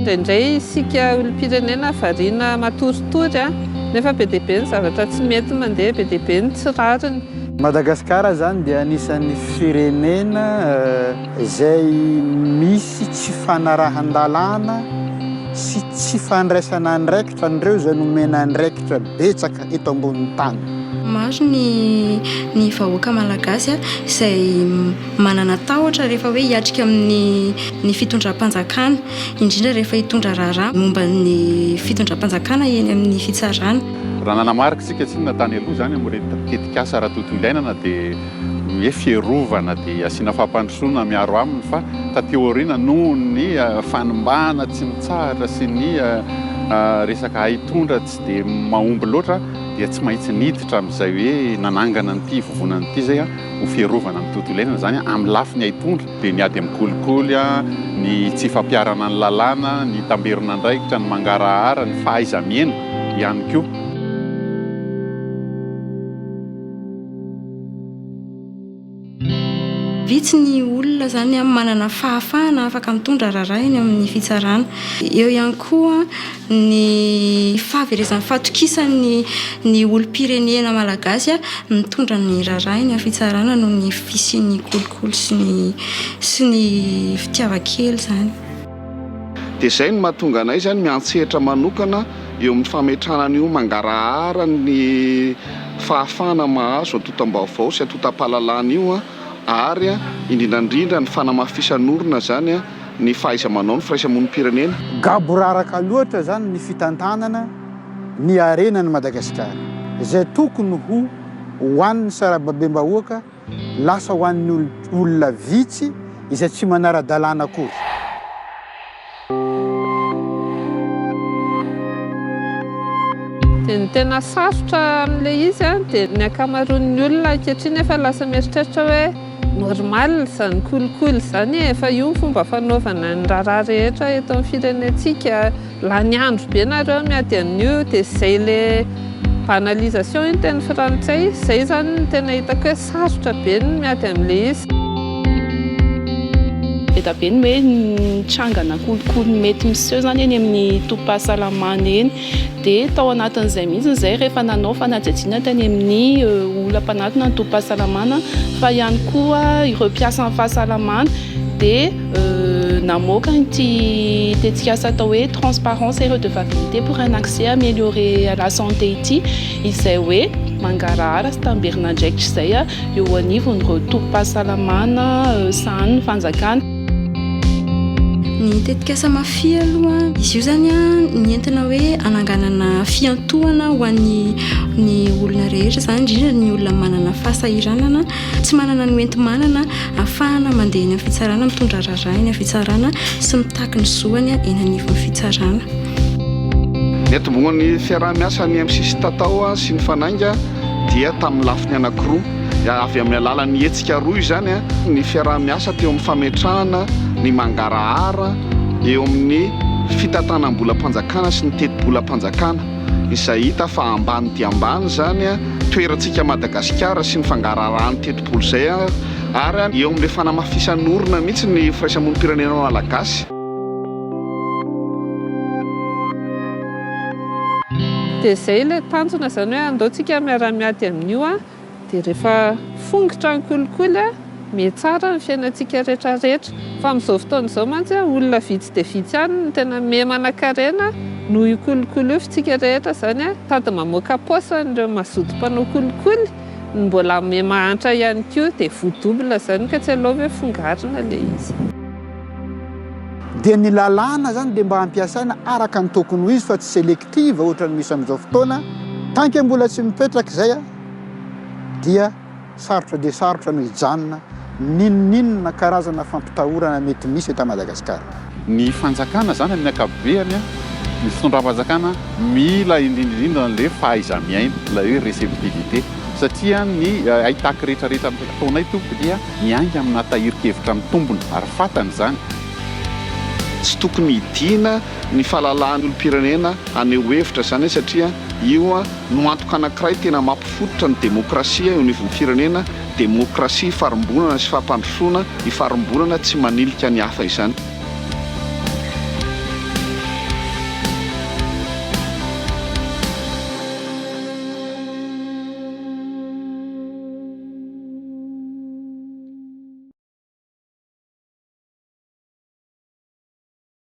Indraindray isika olom-pirenena variana matoritory an! Nefa be dia be ny zavatra tsy mety mandeha, be dia be ny tsy rariny. Madagasikara izany dia anisan'ny firenena. Izay misy tsy fanarahan-dalàna sy tsy fandraisana andraikitra an'ireo izay nomena andraikitra betsaka eto ambonin'ny tany. Maro ny ny vahoaka malagasy izay manana tahotra rehefa hoe hiatrika amin'ny ny fitondram-panjakana, indrindra rehefa hitondra raharaha momba ny fitondram-panjakana eny amin'ny fitsarana. Raha nanamarika isika tsinona tany aloha izany amin'ireto tetikasa ara-tontolo iainana dia ny hoe fiarovana dia asiana fampandrosoana miaro aminy fa taty aoriana noho ny fanimbana tsy mitsahatra sy ny resaka haitondra tsy dia mahomby loatra dia tsy mahitsy niditra amin'izay hoe nanangana an'ity hivovonana ity izay ho fiarovana ny tontolo iainana izany amin'ny lafiny haitondra dia ny ady amin'ny kolikoly ny tsy fampiharana ny lalàna ny tamberon'andraikitra ny mangarahara ny fahaiza-miaina ihany koa. Vitsy ny olona izany manana fahafahana afaka mitondra raharaha eny amin'ny fitsarana. Eo ihany koa ny fahaverezan'ny fahatokisan'ny ny olom-pirenena malagasy mitondra ny raharaha eny amin'ny fitsarana noho ny fisian'ny kolikoly sy ny sy ny fitiavan-kely izany. Dia izay no mahatonga anay izany miantsetra manokana eo amin'ny fametrahana an'io mangarahara ny fahafahana mahazo antotam-baovao sy antotam-pahalalana io ary indrindra indrindra ny fanamafisan'orina izany ny fahaiza-manao ny firaisamonim-pirenena. Gaboraraka loatra izany ny fitantanana ny harenan'i Madagasikara izay tokony ho ho an'ny sarababem-bahoaka Lasa ho an'ny olona vitsy izay tsy manara-dalàna akory. Dia ny tena sarotra amin'ilay izy dia ny ankamaroan'ny olona ankehitriny efa lasa mieritreritra hoe normal izany kolikoly izany e, efa io ny fomba fanaovana ny raharaha rehetra eto amin'ny firenentsika. Lany andro be nareo miady an'io de zay le banalisation iny teny frantsay zay zany no tena hitako hoe sarotra be ny miady an'le izy. Eda be ny hoe nitrangana kolikoly mety miseho izany eny amin'ny tobim-pahasalamana eny dia tao anatin'izay mihitsy izay rehefa nanao fanadihadiana tany amin'ny olona mpanatona ny tobim-pahasalamana fa ihany koa ireo mpiasan'ny fahasalamana dia Namoaka ity tetikasa atao hoe Transparence et Redevabilité pour un accès amélioré à la santé ity izay hoe mangarahara sy tamberin'andraikitra izay eo anivon'ireo tobim-pahasalamana sahanin'ny fanjakana. Ny tetikasa Mafy aloha, izy io izany nentina hoe hananganana fiantohana ho an'ny olona rehetra izany, indrindra ny olona manana fahasahiranana. Tsy manana ny hoenti-manana ahafahana mandeha eny amin'ny fitsarana, mitondra raharaha eny amin'ny fitsarana sy mitaky ny zoany eny anivon'ny fitsarana. Ny hatombohan'ny fiaraha-miasan'ny MCC Tatao sy ny Fanainga dia tamin'ny lafiny anankiroa, avy amin'ny alalan'ny hetsika roa izany, ny fiaraha-miasa teo amin'ny fametrahana ny mangarahara eo amin'ny fitantanam-bolam-panjakana sy ny tetibolam-panjakana, izay hita fa ambany dia ambany izany toerantsika Madagasikara sy ny fangaraharahan'ny tetibola izay ary eo amin'ilay fanamafisan'orina mihitsy ny firaisamonim-pirenena malagasy. Dia izay ilay tanjona izany hoe andao tsika miara-miady amin'io an! Dia rehefa fongotra ny kolikoly a, mihatsara ny fiainantsika rehetra rehetra. Fa amin'izao fotoana izao mantsy a, olona vitsy dia vitsy ihany no tena miha manankarena noho io kolikoly io. F'tsika rehetra izany a, sady mamoaka paosy an'ireo mazoto mpanao kolikoly no mbola miha mahantra ihany koa. Dia voa double izany ka tsy aleo ve fongarina ilay izy. Dia ny lalàna izany dia mba ampiasaina araka ny tokony ho izy fa tsy selektifa. Kivy ohatran'ny misy amin'izao fotoana, tant que mbola tsy mipetraka izay a, dia sarotra dia sarotra no hijanona n'inon'inona karazana fampitahorana mety misy eto Madagasikara. Ny fanjakana izany amin'ny ankapobeny, ny fitondram-panjakana mila indrindra indrindra an'ilay fahaiza-miaina, ilay hoe receptivité, satria ny haitaky rehetra rehetra amin'ity fotoana ity tompoko dia miainga amina tahirin-kevitra mitombina ary fantany izany. Tsy tokony hidiana ny fahalalahan'ny olom-pirenena haneho hevitra izany satria io no antoka anankiray tena mampifototra ny demokrasia eo anivon'ny firenena, demokrasia ifarimbonana sy fampandrosoana ifarimbonana tsy manilika ny hafa izany.